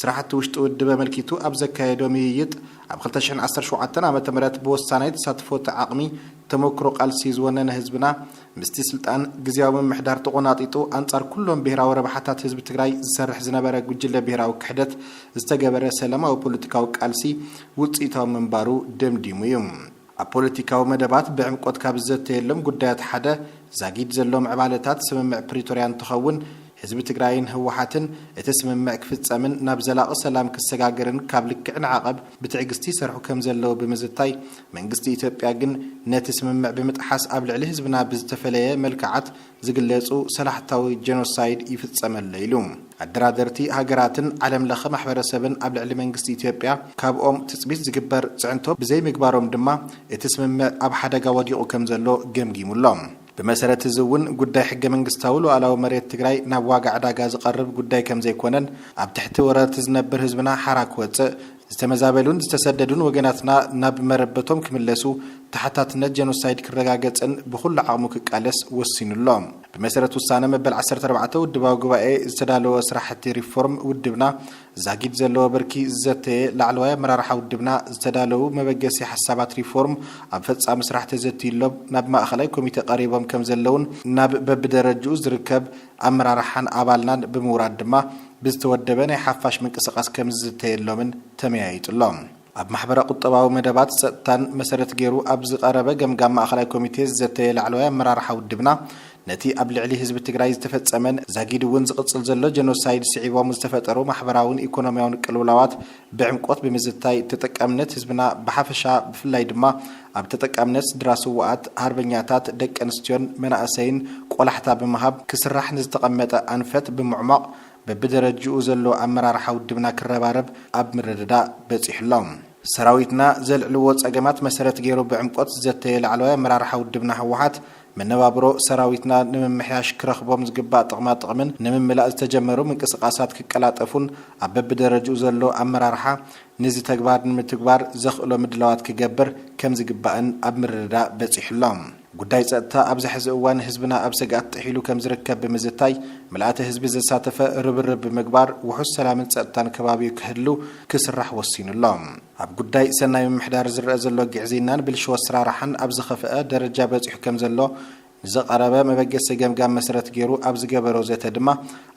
ስራሕቲ ውሽጢ ውድብ ኣመልኪቱ ኣብ ዘካየዶ ምይይጥ፣ ኣብ ክልተ ሽሕን ዓሰርተ ሸውዓተን ዓመተ ምህረት ብወሳናይ ተሳትፎ እቲ ዓቕሚ ተሞክሮ ቃልሲ ዝወነነ ህዝብና ምስቲ ስልጣን ግዝያዊ ምምሕዳር ተቖናጢጡ ኣንፃር ኩሎም ብሄራዊ ረብሓታት ህዝቢ ትግራይ ዝሰርሕ ዝነበረ ጉጅለ ብሄራዊ ክሕደት ዝተገበረ ሰላማዊ ፖለቲካዊ ቃልሲ ውፅኢታዊ ምንባሩ ደምዲሙ እዩ። ኣብ ፖለቲካዊ መደባት ብዕምቆት ካብ ዝዘተየሎም ጉዳያት ሓደ ዛጊድ ዘሎ ምዕባለታት ስምምዕ ፕሪቶርያ እንትኸውን፣ ህዝቢ ትግራይን ህወሓትን እቲ ስምምዕ ክፍፀምን ናብ ዘላቒ ሰላም ክሰጋገርን ካብ ልክዕ ንዓቐብ ብትዕግስቲ ይሰርሑ ከም ዘለዉ ብምዝታይ መንግስቲ ኢትዮጵያ ግን ነቲ ስምምዕ ብምጥሓስ ኣብ ልዕሊ ህዝብና ብዝተፈለየ መልክዓት ዝግለጹ ሰላሕታዊ ጀኖሳይድ ይፍጸም ኣሎ ኢሉ። ኣደራደርቲ ሃገራትን ዓለም ለኸ ማሕበረሰብን ኣብ ልዕሊ መንግስቲ ኢትዮጵያ ካብኦም ትጽቢት ዝግበር ጽዕንቶ ብዘይምግባሮም ድማ እቲ ስምምዕ ኣብ ሓደጋ ወዲቑ ከምዘሎ ገምጊሙ ኣሎ። ብመሰረት እዚ እውን ጉዳይ ሕገ መንግስታዊ ሉኣላዊ መሬት ትግራይ ናብ ዋጋ ዕዳጋ ዝቐርብ ጉዳይ ከምዘይኮነን ኣብ ትሕቲ ወረርቲ ዝነብር ህዝብና ሓራ ክወጽእ ዝተመዛበሉን ዝተሰደዱን ወገናትና ናብ መረበቶም ክምለሱ፣ ተሓታትነት ጀኖሳይድ ክረጋገጽን ብኹሉ ዓቕሙ ክቃለስ ወሲኑ ኣሎ። ብመሰረት ውሳነ መበል ዓሰርተ ኣርባዕተ ውድባዊ ጉባኤ ዝተዳለወ ስራሕቲ ሪፎርም ውድብና ዛጊድ ዘለዎ ብርኪ ዝዘተየ ላዕለዋይ ኣመራርሓ ውድብና ዝተዳለዉ መበገሲ ሓሳባት ሪፎርም ኣብ ፈጻሚ ስራሕ ተዘትዩሎም ናብ ማእኸላይ ኮሚቴ ቀሪቦም ከምዘለዉን ናብ በብደረጅኡ ዝርከብ ኣመራርሓን ኣባልናን ብምውራድ ድማ ብዝተወደበ ናይ ሓፋሽ ምንቅስቓስ ከምዝዝተየሎምን ተመያይጡ ኣሎ። ኣብ ማሕበረ-ቁጠባዊ መደባት ጸጥታን መሰረት ገይሩ ኣብ ዝቐረበ ገምጋም ማእከላይ ኮሚቴ ዝዘተየ ላዕለዋይ ኣመራርሓ ውድብና፣ ነቲ ኣብ ልዕሊ ህዝቢ ትግራይ ዝተፈጸመን ዛጊድ'ውን ዝቕጽል ዘሎ ጀኖሳይድ ስዒቦም ዝተፈጠሩ ማሕበራውን ኢኮኖሚያውን ቅልውላዋት ብዕምቆት ብምዝታይ ተጠቃምነት ህዝብና ብሓፈሻ ብፍላይ ድማ ኣብ ተጠቃምነት ስድራ ስውኣት ሃርበኛታት ደቂ ኣንስትዮን መናእሰይን ቆላሕታ ብምሃብ ክስራሕ ንዝተቐመጠ ኣንፈት ብምዕሟቕ በብደረጅኡ ዘሎ ኣመራርሓ ውድብና ክረባረብ ኣብ ምርድዳእ በፂሑ ኣሎ። ሰራዊትና ዘልዕልዎ ፀገማት መሰረት ገይሩ ብዕምቆት ዝዘተየ ላዕለዋይ ኣመራርሓ ውድብና ህወሓት መነባብሮ ሰራዊትና ንምምሕያሽ ክረኽቦም ዝግባእ ጥቕማ ጥቕምን ንምምላእ ዝተጀመሩ ምንቅስቓሳት ክቀላጠፉን ኣብ በቢደረጅኡ ዘሎ ኣመራርሓ ንዚ ተግባር ንምትግባር ዘኽእሎ ምድላዋት ክገብር ከምዝግባእን ኣብ ምርድዳእ በፂሑ'ሎ። ጉዳይ ፀጥታ ኣብዚ ሐዚ እዋን ህዝብና ኣብ ስግኣት ጥሒሉ ከምዝርከብ ብምዝታይ ምልኣተ ህዝቢ ዘሳተፈ ርብርብ ብምግባር ውሑስ ሰላምን ፀጥታን ከባቢኡ ክህሉ ክስራሕ ወሲኑ'ሎ። ኣብ ጉዳይ ሰናይ ምምሕዳር ዝረኣ ዘሎ ግዕዝይናን ብልሽው ኣሰራርሓን ኣብ ዝኸፍኣ ደረጃ በፂሑ ከምዘሎ ንዘቐረበ መበገሲ ገምጋም መሰረት ገይሩ ኣብ ዝገበሮ ዘተ ድማ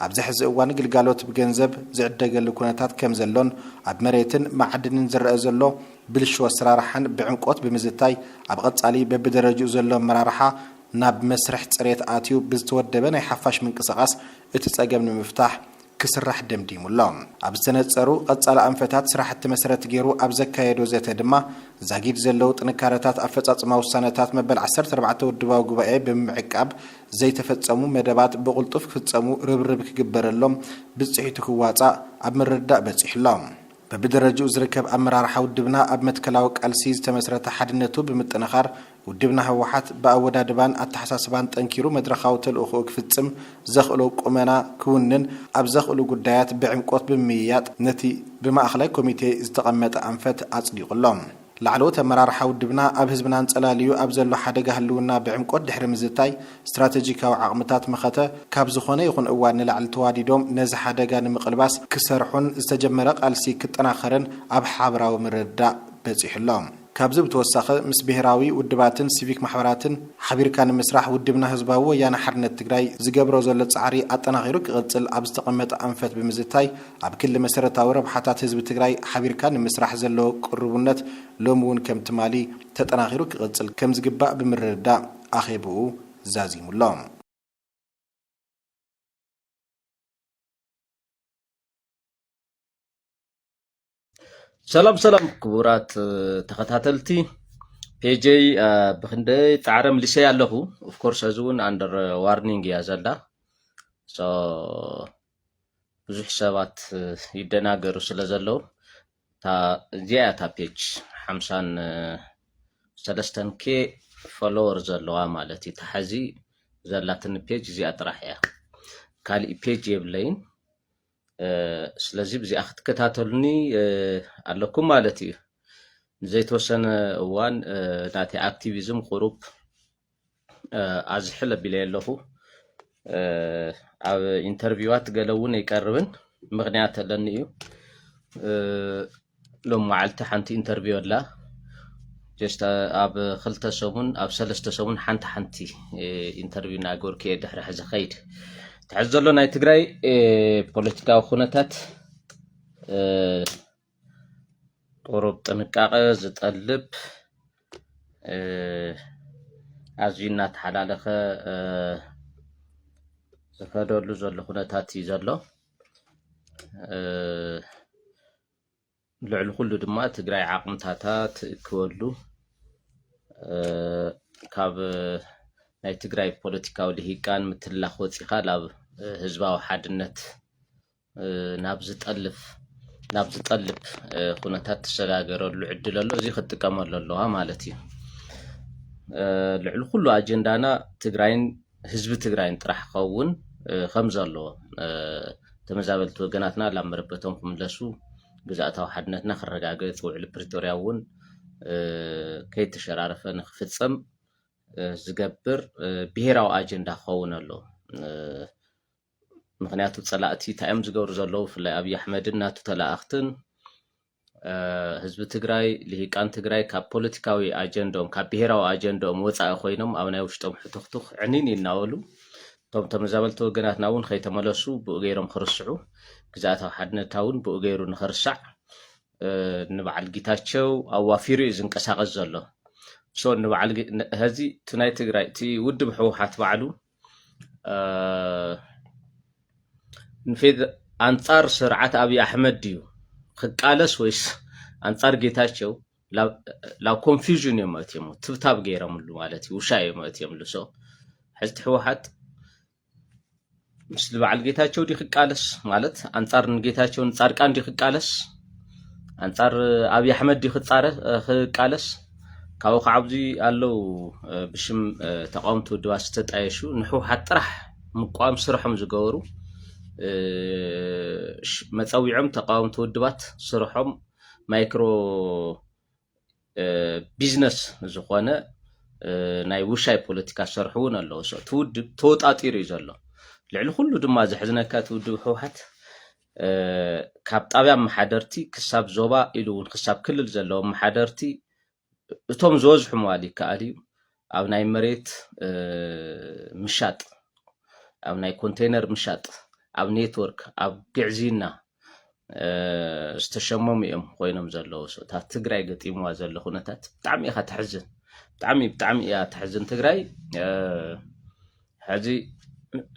ኣብዚ ሕዚ እዋን ግልጋሎት ብገንዘብ ዝዕደገሉ ኩነታት ከምዘሎን ኣብ መሬትን መዓድንን ዝረኣ ዘሎ ብልሽው ኣሰራርሓን ብዕምቆት ብምዝታይ ኣብ ቐፃሊ በቢደረጅኡ ዘሎ ኣመራርሓ ናብ መስርሕ ፅሬት ኣትዩ ብዝተወደበ ናይ ሓፋሽ ምንቅስቓስ እቲ ፀገም ንምፍታሕ ክስራሕ ደምዲሙ ኣሎ። ኣብ ዝተነጸሩ ቐጻሊ ኣንፈታት ስራሕቲ መሰረት ገይሩ ኣብ ዘካየዶ ዘተ ድማ፣ ዛጊድ ዘለዉ ጥንካረታት ኣፈጻጽማ ውሳነታት መበል ዓሰርተ ኣርባዕተ ውድባዊ ጉባኤ ብምምዕቃብ፣ ዘይተፈጸሙ መደባት ብቕልጡፍ ክፍጸሙ ርብርብ ክግበረሎም፣ ብጽሒቱ ክዋጻእ ኣብ ምርድዳእ በጺሑ ኣሎ። በብደረጅኡ ዝርከብ ኣመራርሓ ውድብና ኣብ መትከላዊ ቃልሲ ዝተመስረተ ሓድነቱ ብምጥንኻር፣ ውድብና ህወሓት ብኣወዳድባን ኣተሓሳስባን ጠንኪሩ መድረኻዊ ተልእኾኡ ክፍፅም ዘኽእሎ ቁመና ክውንን ኣብ ዘኽእሉ ጉዳያት ብዕምቆት ብምምይያጥ ነቲ ብማእኸላይ ኮሚቴ ዝተቐመጠ ኣንፈት ኣፅዲቑ ኣሎ። ላዕለዎት ኣመራርሓ ውድብና ኣብ ህዝብና ኣንፀላልዩ ኣብ ዘሎ ሓደጋ ህልውና ብዕምቆት ድሕሪ ምዝታይ ስትራቴጂካዊ ዓቕምታት መኸተ ካብ ዝኾነ ይኹን እዋን ንላዕሊ ተዋዲዶም ነዚ ሓደጋ ንምቕልባስ ክሰርሑን ዝተጀመረ ቃልሲ ክጠናኸርን ኣብ ሓበራዊ ምርድዳእ በፂሑ ኣሎ። ካብዚ ብተወሳኺ ምስ ብሄራዊ ውድባትን ሲቪክ ማሕበራትን ሓቢርካ ንምስራሕ ውድብና ህዝባዊ ወያነ ሓርነት ትግራይ ዝገብሮ ዘሎ ፃዕሪ ኣጠናኺሩ ክቕፅል ኣብ ዝተቐመጠ ኣንፈት ብምዝታይ ኣብ ክሊ መሰረታዊ ረብሓታት ህዝቢ ትግራይ ሓቢርካ ንምስራሕ ዘለዎ ቅሩቡነት ሎሚ እውን ከም ትማሊ ተጠናኺሩ ክቕፅል ከም ዝግባእ ብምርድዳእ ኣኼብኡ ዛዚሙ ኣሎ። ሰላም ሰላም ክቡራት እ፣ ተኸታተልቲ ፔጀይ እ፣ ብክንደይ ፃዕረ ምልሰይ ኣለኹ ኦፍኮርስ እዚ እውን ኣንደር ዋርኒንግ እያ ዘላ ሶ ብዙሕ ሰባት እ፣ ይደናገሩ ስለ ዘለዉ እታ እዚኣ እያ እታ ፔጅ ሓምሳን እ፣ ሰለስተን ኬ ፎሎወር ዘለዋ ማለት እዩ ተሓዚ ዘላትኒ ፔጅ እዚኣ ጥራሕ እያ ካሊእ ፔጅ የብለይን ስለዚ ብዚኣ ክትከታተሉኒ ኣለኩም ማለት እዩ ንዘይተወሰነ እዋን ናተይ ኣክቲቪዝም ቁሩብ ኣዝሕል ኣቢለ ኣለኹ ኣብ ኢንተርቪዋት ገለ እውን ኣይቀርብን ምክንያት ኣለኒ እዩ ሎም መዓልቲ ሓንቲ ኢንተርቪው ኣላ ጀስት ኣብ ክልተ ሰሙን ኣብ ሰለስተ ሰሙን ሓንቲ ሓንቲ ኢንተርቪው እናገበርኩ እየ ድሕሪ ሕዚ ከይድ ትሕዚ ዘሎ ናይ ትግራይ ፖለቲካዊ ኩነታት ቁሩብ ጥንቃቐ ዝጠልብ ኣዝዩ እናተሓላለኸ ዝኸደሉ ዘሎ ኩነታት እዩ ዘሎ ልዕሊ ኩሉ ድማ ትግራይ ዓቅምታታ ትእክበሉ ካብ ናይ ትግራይ ፖለቲካዊ ልሂቃን ምትላኽ ወፂኻ ናብ ህዝባዊ ሓድነት ናብ ዝጠልፍ ናብ ዝጠልብ ኩነታት ትሰጋገረሉ ዕድል ኣሎ እዚ ክትጥቀመሉ ኣለዋ ማለት እዩ ልዕሊ ኩሉ ኣጀንዳና ትግራይን ህዝቢ ትግራይን ጥራሕ ክኸውን ከምዘለዎ፣ ተመዛበልቲ ወገናትና ላብ መረበቶም ክምለሱ፣ ግዝኣታዊ ሓድነትና ክረጋገፅ፣ ውዕሊ ፕሪቶርያ እውን ከይተሸራረፈ ንክፍፀም ዝገብር ብሄራዊ ኣጀንዳ ክኸውን ኣለዎ። ምክንያቱ ፀላእቲ እንታይ እዮም ዝገብሩ ዘለዉ ብፍላይ ኣብዪ ኣሕመድን ናቱ ተላኣኽትን ህዝቢ ትግራይ ልሂቃን ትግራይ ካብ ፖለቲካዊ ኣጀንድኦም ካብ ብሄራዊ ኣጀንድኦም ወፃኢ ኮይኖም ኣብ ናይ ውሽጦም ሕቱኽቱኽ ዕኒን ይናበሉ እቶም ተመዛበልቲ ወገናትና እውን ከይተመለሱ ብኡ ገይሮም ክርስዑ ግዝኣታዊ ሓድነትና እውን ብኡ ገይሩ ንክርሳዕ ንበዓል ጌታቸው ኣዋፊሩ እዩ ዝንቀሳቐስ ዘሎ ሶ ንበዓል ሀዚ እቲ ናይ ትግራይ እቲ ውድብ ህወሓት ባዕሉ ንፌት ኣንጻር ስርዓት ኣብዪ ኣሕመድ ድዩ ክቃለስ ወይስ ኣንጻር ጌታቸው ላብ ኮንፊዥን እዮም መእትዮም ትብታብ ገይረምሉ ማለት እዩ ውሻ እዮም መእትዮምሉ ሰው ሕዝቲ ህወሓት ምስሊ በዓል ጌታቸው ዲ ክቃለስ ማለት ኣንጻር ንጌታቸው ንጻድቃን ዲ ክቃለስ ኣንጻር ኣብዪ ኣሕመድ ዲ ክቃለስ ካብኡ ከዓ ኣብዚ ኣለው ብሽም ተቃወምቲ ውድባት ዝተጣየሹ ንሕውሓት ጥራሕ ምቋም ስርሖም ዝገበሩ መፀዊዖም ተቃወምቲ ውድባት ስርሖም ማይክሮ ቢዝነስ ዝኾነ ናይ ውሻይ ፖለቲካ ዝሰርሑ እውን ኣለዉ እቲ ውድብ ተወጣጢሩ እዩ ዘሎ ልዕሊ ኩሉ ድማ ዘሕዝነካ እቲ ውድብ ህወሓት ካብ ጣብያ ኣመሓደርቲ ክሳብ ዞባ ኢሉ እውን ክሳብ ክልል ዘለዉ ኣመሓደርቲ እቶም ዝበዝሑ ምባል ይከኣል እዩ ኣብ ናይ መሬት ምሻጥ ኣብ ናይ ኮንቴይነር ምሻጥ ኣብ ኔትወርክ ኣብ ግዕዝይና ዝተሸመሙ እዮም ኮይኖም ዘለዉ እታ ትግራይ ገጢምዋ ዘሎ ኩነታት ብጣዕሚ ኢኻ ተሕዝን ብጣዕሚ ብጣዕሚ እያ ተሕዝን ትግራይ ሕዚ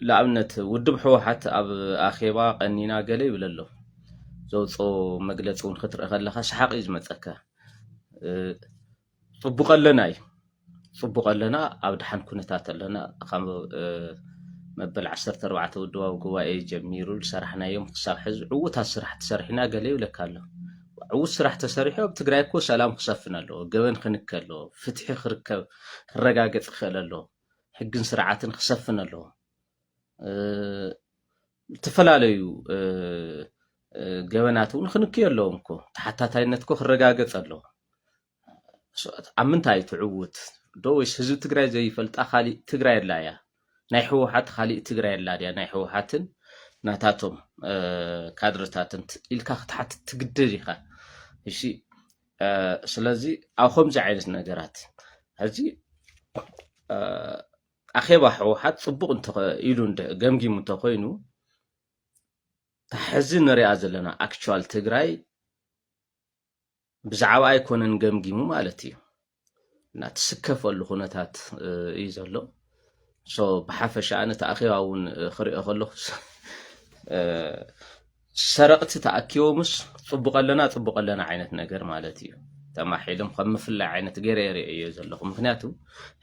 ንኣብነት ውድብ ሕወሓት ኣብ ኣኼባ ቀኒና ገለ ይብል ኣሎ ዘውፅኦ መግለፂ እውን ክትርኢ ከለካ ሰሓቅ እዩ ዝመፀካ ፅቡቅ ኣለና እዩ ፅቡቅ ኣለና ኣብ ድሓን ኩነታት ኣለና ካብ መበል 14 ውድባዊ ጉባኤ ጀሚሩ ዝሰራሕናዮም ክሳብ ሕዚ ዕውታት ስራሕ ተሰሪሕና ገለ ይብለካ ኣሎ ዕውት ስራሕ ተሰሪሑ ኣብ ትግራይ እኮ ሰላም ክሰፍን ኣለዎ ገበን ክንከ ኣለዎ ፍትሒ ክርከብ ክረጋገፅ ክኽእል ኣለዎ ሕግን ስርዓትን ክሰፍን ኣለዎ። ዝተፈላለዩ ገበናት እውን ክንክዩ ኣለዎም እኮ ተሓታታይነት እኮ ክረጋገፅ ኣለዎ። ኣብ ምንታይ እዩ ትዕውት ዶ ወይስ ህዝቢ ትግራይ ዘይፈልጣ ካሊእ ትግራይ ኣላ እያ? ናይ ህወሓት ካሊእ ትግራይ ኣላ ድያ? ናይ ህወሓትን ናታቶም ካድረታትን ኢልካ ክትሓትት ትግደድ ኢኻ። ስለዚ ኣብ ከምዚ ዓይነት ነገራት ሕዚ ኣኼባ ህወሓት ፅቡቕ ኢሉ ገምጊሙ እንተኮይኑ ሕዚ ንሪኣ ዘለና ኣክቹዋል ትግራይ ብዛዕባ ኣይኮነን ገምጊሙ ማለት እዩ እናትስከፈሉ ኩነታት እዩ ዘሎ ሶ ብሓፈሻ ኣነ ተኣኪባ እውን ክሪኦ ከለኩ ሰረቕቲ ተኣኪቦምስ ፅቡቅ ኣለና ፅቡቅ ኣለና ዓይነት ነገር ማለት እዩ ተማሒሎም ከም ምፍላይ ዓይነት ገይረ የርእዮ ዘለኹ ምክንያቱ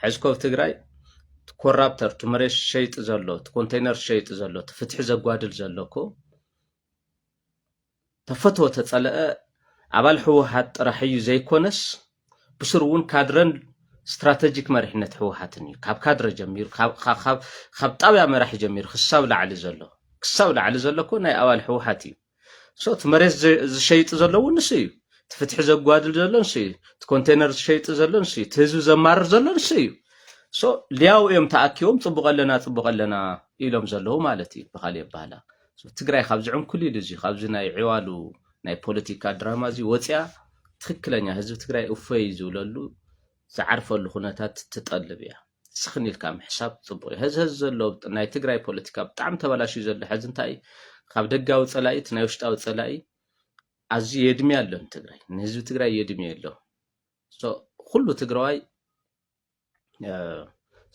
ሕዚ ኮብ ትግራይ ኮራፕተር እቲ መሬት ሸይጢ ዘሎ እቲ ኮንቴይነር ሸይጢ ዘሎ እቲ ፍትሒ ዘጓድል ዘሎ እኮ ተፈትወ ተፀለኣ ኣባል ህወሓት ጥራሕ እዩ ዘይኮነስ ብስሩ እውን ካድረን ስትራተጂክ መሪሕነት ህወሓትን እዩ። ካብ ካድረ ጀሚሩ ካብ ጣብያ መራሒ ጀሚሩ ክሳብ ላዕሊ ዘሎ ክሳብ ላዕሊ ዘሎ እኮ ናይ ኣባል ህወሓት እዩ። ሶ እቲ መሬት ዝሸይጥ ዘሎ እውን ንሱ እዩ። እቲ ፍትሒ ዘጓድል ዘሎ ንሱ እዩ። እቲ ኮንቴነር ዝሸይጥ ዘሎ ንሱ እዩ። እቲ ህዝቢ ዘማርር ዘሎ ንሱ እዩ። ሶ ሊያው እዮም ተኣኪቦም ፅቡቕ ኣለና ፅቡቕ ኣለና ኢሎም ዘለዉ ማለት እዩ ብካሊእ ኣባህላ ትግራይ ካብዚ ዕንኩሊል እዚ ካብዚ ናይ ዕዋሉ ናይ ፖለቲካ ድራማ እዚ ወፅያ ትክክለኛ ህዝቢ ትግራይ እፎይ ዝብለሉ ዝዓርፈሉ ኩነታት ትጠልብ እያ። ስኽን ኢልካ ምሕሳብ ፅቡቅ እዩ። ሀዚ ሀዚ ዘሎ ናይ ትግራይ ፖለቲካ ብጣዕሚ ተበላሽዩ ዘሎ ሐዚ እንታይ እዩ ካብ ደጋዊ ፀላኢት ናይ ውሽጣዊ ፀላኢ ኣዝዩ የድምያ ኣሎ ንትግራይ ንህዝቢ ትግራይ የድምዮ ኣሎ ኩሉ ትግራዋይ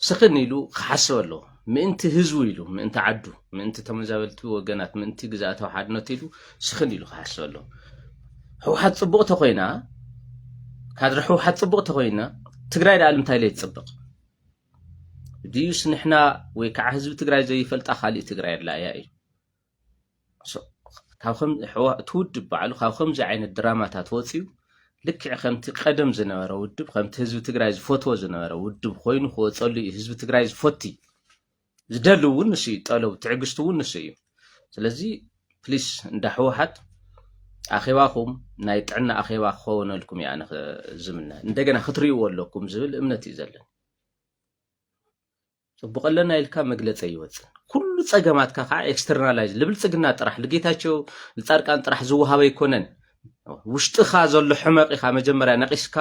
ስኽን ኢሉ ክሓስብ ኣለዎ ምእንቲ ህዝቡ ኢሉ ምእንቲ ዓዱ ምእንቲ ተመዛበልቲ ወገናት ምእንቲ ግዝኣታዊ ሓድነት ኢሉ ስኽን ኢሉ ክሓስብ ኣለዎ ህውሓት ፅቡቅ ተኮይና ካድረ ህውሓት ፅቡቅ ተኮይና ትግራይ ደኣ ልምታይ ለይ ትፅብቅ ድዩስ ንሕና ወይ ከዓ ህዝቢ ትግራይ ዘይፈልጣ ካሊእ ትግራይ ኣላ እያ እዩ እቲ ውድብ ባዕሉ ካብ ከምዚ ዓይነት ድራማታት ወፅዩ ልክዕ ከምቲ ቀደም ዝነበረ ውድብ ከምቲ ህዝቢ ትግራይ ዝፈትዎ ዝነበረ ውድብ ኮይኑ ክወፀሉ እዩ ህዝቢ ትግራይ ዝፈቲ ዝደሊ እውን ንሱ እዩ ጠለቡ ትዕግስቲ እውን ንሱ እዩ ስለዚ ፕሊስ እንዳ ህወሓት ኣኼባኹም ናይ ጥዕና ኣኼባ ክኸውነልኩም እዩ ኣነ ዝምነ እንደገና ክትርእይዎ ኣለኩም ዝብል እምነት እዩ ዘለኒ ጽቡቅ ኣለና ኢልካ መግለጺ ኣይወጽን ኩሉ ጸገማትካ ከዓ ኤክስተርናላይዝ ልብልጽግና ጥራሕ ልጌታቸው ልጻድቃን ጥራሕ ዝወሃበ ኣይኮነን ውሽጥኻ ዘሎ ሕመቅ ኢኻ መጀመርያ ነቂስካ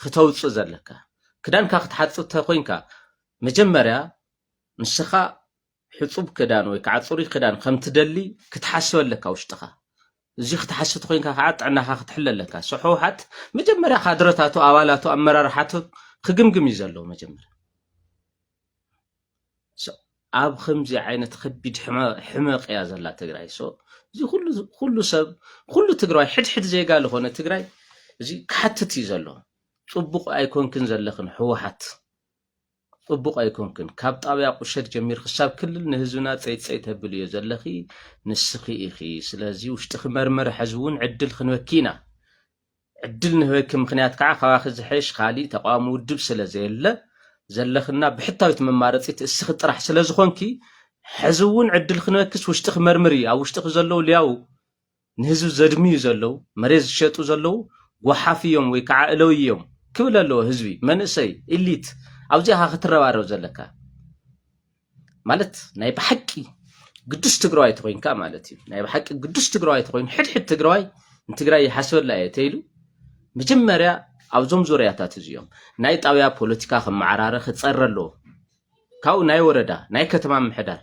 ክተውጽእ ዘለካ ክዳንካ ክትሓጽብ ተኮይንካ መጀመርያ ንስኻ ሕጹብ ክዳን ወይ ከዓ ጽሩይ ክዳን ከምትደሊ ክትሓስብ ኣለካ ውሽጥኻ እዚ ክትሓስት ኮይንካ ከዓ ጥዕናካ ክትሕለ ኣለካ ሶ ሕውሓት መጀመርያ ካድረታቱ ኣባላቱ ኣመራርሓቱ ክግምግም እዩ ዘለዎ መጀመርያ ኣብ ከምዚ ዓይነት ከቢድ ሕመቅ እያ ዘላ ትግራይ ሶ እዚ ኩሉ ሰብ ኩሉ ትግራዋይ ሕድሕድ ዜጋ ዝኾነ ትግራይ እዚ ክሓትት እዩ ዘሎ ፅቡቅ ኣይኮንክን ዘለኽን ህወሓት ጽቡቅ ኣይኮንክን ካብ ጣብያ ቁሸት ጀሚር ክሳብ ክልል ንህዝብና ጸይት ጸይት ተብልዮ ዘለኺ ንስኺ ኢኺ ስለዚ ውሽጥኺ መርምሪ ሐዚ ውን ዕድል ክንበኪ ኢና ዕድል ንህበኪ ምኽንያት ከዓ ካባኺ ዝሐይሽ ኻሊእ ተቃዋሚ ውድብ ስለዘየለ ዘለኽና ብሕታዊት መማረፂት እስኺ ጥራሕ ስለዝኾንኪ ሐዚ ውን ዕድል ክንበኪስ ውሽጥኺ መርምሪ ኣብ ውሽጥኺ ዘለው ልያው ንህዝቢ ዘድምዩ ዘለው መሬት ዝሸጡ ዘለው ጎሓፍ እዮም ወይ ከዓ እለውይ እዮም ክብል ኣለዎ ህዝቢ መንእሰይ ኢሊት ኣብዚኣኻ ክትረባረብ ዘለካ ማለት ናይ ብሓቂ ግዱስ ትግራዋይ ተኮይንካ ማለት እዩ ናይ ብሓቂ ግዱስ ትግራዋይ ተኮይኑ ሕድሕድ ትግራዋይ ንትግራይ ይሓስበላ እየ ተይሉ መጀመርያ ኣብዞም ዙርያታት እዚኦም ናይ ጣብያ ፖለቲካ ክመዓራረ ክፀረ ኣለዎ ካብኡ ናይ ወረዳ ናይ ከተማ ምሕዳር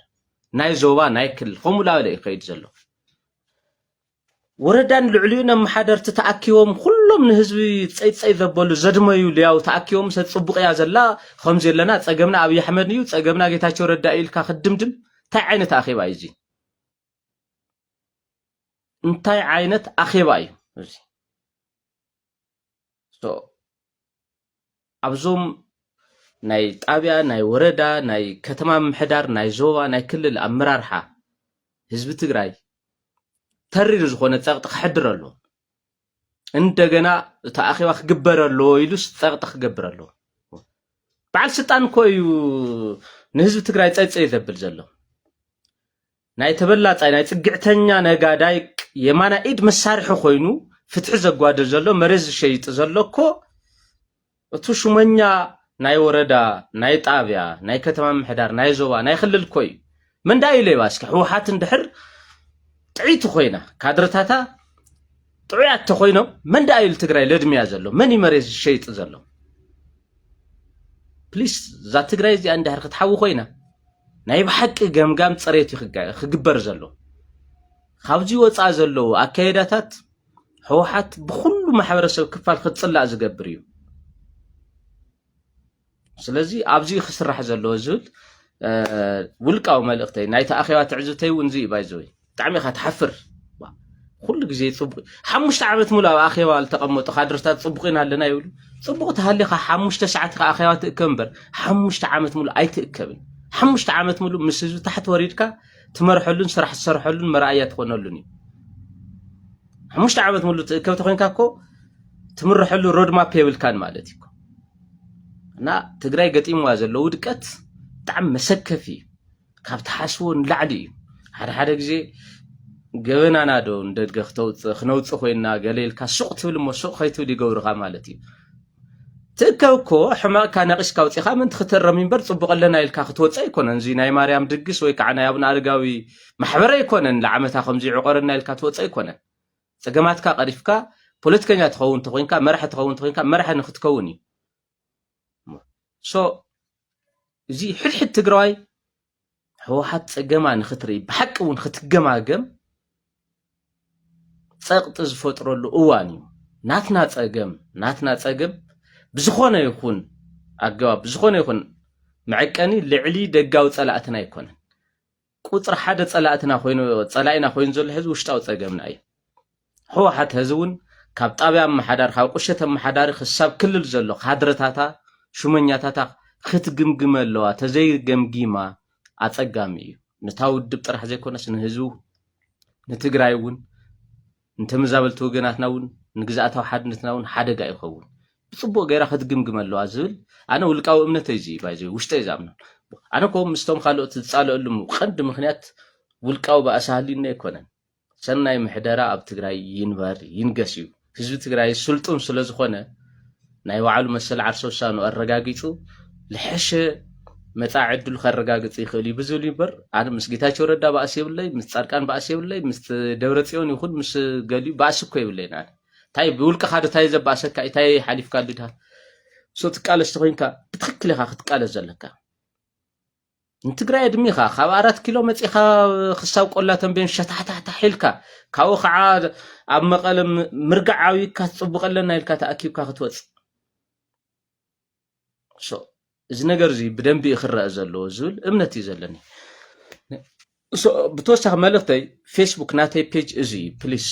ናይ ዞባ ናይ ክልል ከምኡ ላበለ እዩ ከይድ ዘሎ ወረዳን ልዕሊኡን ኣመሓደርቲ ተኣኪቦም ኩሎም ንህዝቢ ፀይፀይ ዘበሉ ዘድመዩ ልያው ተኣኪቦም ሰ ፅቡቅ እያ ዘላ ከምዚ ኣለና ፀገምና ኣብይ ኣሕመድ እዩ ፀገምና ጌታቸው ረዳ ኢልካ ክድምድም እንታይ ዓይነት ኣኼባ እዩ እዚ እንታይ ዓይነት ኣኼባ እዩ እዚ ሶ ኣብዞም ናይ ጣብያ ናይ ወረዳ ናይ ከተማ ምምሕዳር ናይ ዞባ ናይ ክልል ኣመራርሓ ህዝቢ ትግራይ ተሪር ዝኾነ ፀቕጢ ክሕድር ኣለዎ እንደገና እቲ ኣኼባ ክግበር ኣለዎ ኢሉስ ፀቕጢ ክገብር ኣለዎ በዓል ስልጣን እኮ እዩ ንህዝቢ ትግራይ ፀይፀይ ዘብል ዘሎ ናይ ተበላጻይ ናይ ጽግዕተኛ ነጋዳይ የማናይ ኢድ መሳርሒ ኮይኑ ፍትሒ ዘጓድል ዘሎ መሬት ዝሸይጥ ዘሎ እኮ እቱ ሹመኛ ናይ ወረዳ ናይ ጣብያ ናይ ከተማ ምሕዳር ናይ ዞባ ናይ ክልል እኮ እዩ መንዳዩ ሌባ እስኪ ህወሓት እንድሕር ጥዒቲ ኮይና ካድረታታ ጥዑያት ተኾይኖም መን ደኣ ኢሉ ትግራይ ለድምያ ዘሎ መን እዩ መሬት ዝሸይጥ ዘሎ ፕሊስ እዛ ትግራይ እዚኣ እንድሕር ክትሓዊ ኮይና ናይ ብሓቂ ገምጋም ፅሬት እዩ ክግበር ዘሎ ካብዚ ወፃ ዘለዉ ኣካየዳታት ህወሓት ብኩሉ ማሕበረሰብ ክፋል ክትፅላእ ዝገብር እዩ ስለዚ ኣብዚ እዩ ክስራሕ ዘለዎ ዝብል ውልቃዊ መልእኽተይ ናይቲ ኣኼባ ትዕዝብተይ እውን እዚ እዩ ባይዘወይ ብጣዕሚ ኢኻ ትሓፍር ኩሉ ግዜ ፅቡቅ ሓሙሽተ ዓመት ሙሉ ኣብ ኣኼባ ዝተቐመጡ ካድርታት ፅቡቅ ኢና ኣለና ይብሉ ፅቡቅ ተሃሊኻ ሓሙሽተ ሰዓት ኢኻ ኣኼባ ትእከብ እምበር ሓሙሽተ ዓመት ሙሉ ኣይትእከብን ሓሙሽተ ዓመት ሙሉ ምስ ህዝቢ ታሕቲ ወሪድካ ትመርሐሉን ስራሕ ትሰርሐሉን መርኣያ ትኾነሉን እዩ ሓሙሽተ ዓመት ሙሉ ትእከብ ተኮይንካ እኮ ትምርሐሉ ሮድማፕ የብልካን ማለት እዩ እና ትግራይ ገጢምዋ ዘሎ ውድቀት ብጣዕሚ መሰከፊ እዩ ካብ ትሓስቦ ንላዕሊ እዩ ሓደ ሓደ ግዜ ገበናና ዶ ንደድገ ክተውፅእ ክነውፅእ ኮይና ገለ ኢልካ ሱቕ ትብል እሞ ሱቕ ከይትብል ይገብርኻ ማለት እዩ ትእከብ እኮ ሕማቕካ ነቒስካ ውፅኻ ምንቲ ክተረም እምበር ፅቡቕ ኣለና ኢልካ ክትወፅ ኣይኮነን እዚ ናይ ማርያም ድግስ ወይ ከዓ ናይ ኣብነ ኣረጋዊ ማሕበር ኣይኮነን ንዓመታ ከምዚ ዕቆረና ኢልካ ትወፅ ኣይኮነን ጸገማትካ ቀሪፍካ ፖለቲከኛ ትኸውን ተኾይንካ መራሒ ትኸውን ተኾይንካ መራሒ ንክትከውን እዩ ሶ እዚ ሕድሕድ ትግራዋይ ህወሓት ፀገማ ንክትርኢ ብሓቂ እውን ክትገማገም ፀቕጢ ዝፈጥረሉ እዋን እዩ ናትና ፀገም ናትና ፀገም ብዝኾነ ይኹን ኣገባብ ብዝኾነ ይኹን መዕቀኒ ልዕሊ ደጋዊ ፀላእትና ኣይኮነን ቁፅሪ ሓደ ፀላእትና ኮይኑ ፀላኢና ኮይኑ ዘሎ ሕዚ ውሽጣዊ ፀገምና እዩ። ህወሓት ሕዚ እውን ካብ ጣብያ ኣመሓዳሪ ካብ ቁሸት ኣመሓዳሪ ክሳብ ክልል ዘሎ ካድረታታ ሹመኛታታ ክትግምግመ ኣለዋ ተዘይገምጊማ ኣፀጋሚ እዩ። ነታ ውድብ ጥራሕ ዘይኮነስ ንህዝቢ ንትግራይ እውን ንተመዛበልቲ ወገናትና እውን ንግዝኣታዊ ሓድነትና እውን ሓደጋ ይኸውን ብፅቡቅ ገይራ ከትግምግም ኣለዋ ዝብል ኣነ ውልቃዊ እምነተይ እዚ ባይዘ ውሽጠይ ዝኣምኖ ኣነ ኮ ምስቶም ካልኦት ዝፃለእሉ ቀንዲ ምክንያት ውልቃዊ ባእሲ ሃልዩኒ ኣይኮነን ሰናይ ምሕደራ ኣብ ትግራይ ይንበር ይንገስ እዩ ህዝቢ ትግራይ ስልጡን ስለዝኾነ ናይ ባዕሉ መሰል ዓርሰ ውሳኑ ኣረጋጊፁ ልሐሸ መፃ ዕድሉ ከረጋግፅ ይኽእል እዩ ብዝብል ይበር ኣነ ምስ ጌታቸው ረዳ ባእሲ የብለይ ምስ ፃድቃን ባእሲ የብለይ ምስ ደብረ ፅዮን ይኹን ምስ ገሊኡ ባእሲ እኮ የብለይን ኣነ እንታይ ብውልቅኻ ዶ እንታይ ዘባእሰካ እንታይ ሓሊፍካ ድድሃ ሶ ትቃለስ ተኮይንካ ብትክክል ኢኻ ክትቃለስ ዘለካ ንትግራይ ኣድሚኻ ካብ ኣራት ኪሎ መፂኻ ክሳብ ቆላ ተንቤን ሸታሕታሕታሕ ኢልካ ካብኡ ከዓ ኣብ መቐለ ምርጋዕ ዓብይካ ትፅቡቕ ኣለና ኢልካ ተኣኪብካ ክትወፅእ እዚ ነገር እዚ ብደንቢ እዩ ክረአ ዘለዎ ዝብል እምነት እዩ ዘለኒ ብተወሳኺ መልእኽተይ ፌስቡክ ናተይ ፔጅ እዚ እዩ ፕሊስ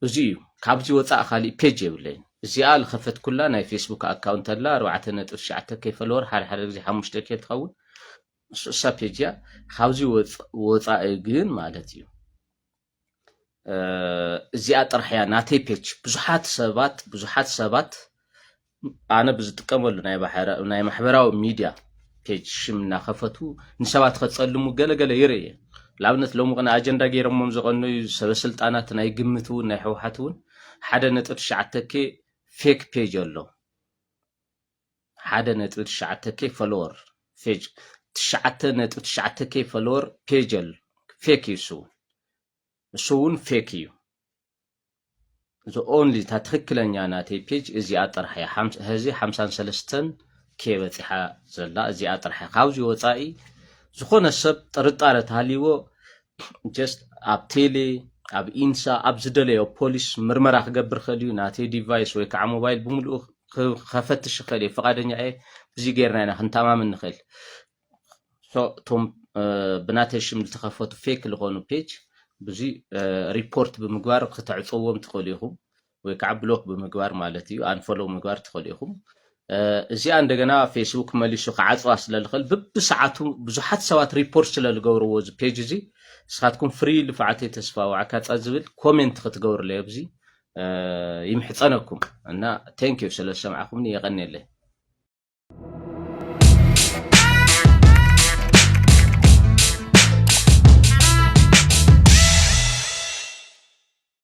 እዚ እዩ ካብዚ ወፃእ ካሊእ ፔጅ የብለይን እዚኣ ዝኸፈትኩላ ናይ ፌስቡክ ኣካውንት ኣላ ኣርባዕተ ነጥብ ትሽዓተ ከይ ፈለወር ሓደ ሓደ ግዜ ሓሙሽተ ከ ትኸውን ንሱ እሳ ፔጅ እያ ካብዚ ወፃኢ ግን ማለት እዩ እዚኣ ጥራሕ እያ ናተይ ፔጅ ብዙሓት ሰባት ብዙሓት ሰባት ኣነ ብዝጥቀመሉ ናይ ማሕበራዊ ሚድያ ፔጅ ሽም እናኸፈቱ ንሰባት ከፀልሙ ገለገለ ይርኢ እየ ንኣብነት ሎሚ ቅነ ኣጀንዳ ገይሮሞም ዝቐነዩ ሰበስልጣናት ናይ ግምት እውን ናይ ሕወሓት እውን ሓደ ነጥብ ትሽዓተ ኬ ፌክ ፔጅ ኣሎ ሓደ ነጥቢ ትሽዓተ ኬ ፈለወር ፌጅ ትሽዓተ ነጥቢ ትሽዓተ ኬ ፈለወር ፔጀል ፌክ እዩ እሱ እሱ እውን ፌክ እዩ እዚ ኦንሊ እታ ትክክለኛ ናተይ ፔጅ እዚኣ ጥራሕ እያ ህዚ ሓምሳን ሰለስተን ኬ በፂሓ ዘላ እዚኣ ጥራሕ እያ ካብዚ ወፃኢ ዝኾነ ሰብ ጥርጣረ ተሃልይዎ ጀስት ኣብ ቴሌ ኣብ ኢንሳ ኣብ ዝደለዮ ፖሊስ ምርመራ ክገብር ኸእል እዩ ናተይ ዲቫይስ ወይ ከዓ ሞባይል ብምልኡ ከፈትሽ ይኽእል እየ ፈቃደኛ እየ እዚ ገይርና ኢና ክንተማመን ንኽእል እቶም ብናተይ ሽም ዝተኸፈቱ ፌክ ዝኾኑ ፔጅ ብዙ ሪፖርት ብምግባር ክተዕፀዎም ትኽእሉ ኢኹም ወይ ከዓ ብሎክ ብምግባር ማለት እዩ ኣንፈሎው ምግባር ትኽእሉ ኢኹም። እዚኣ እንደገና ፌስቡክ መሊሱ ክዓፅዋ ስለ ዝኽእል ብብሰዓቱ ብዙሓት ሰባት ሪፖርት ስለ ዝገብርዎ እዚ ፔጅ እዚ ንስኻትኩም ፍሪ ልፍዓተይ ተስፋ ዋዕካፃ ዝብል ኮሜንት ክትገብርለይ ኣብዚ ይምሕፀነኩም እና ቴንክ ዩ ስለ ዝሰማዕኹምኒ የቐኔለይ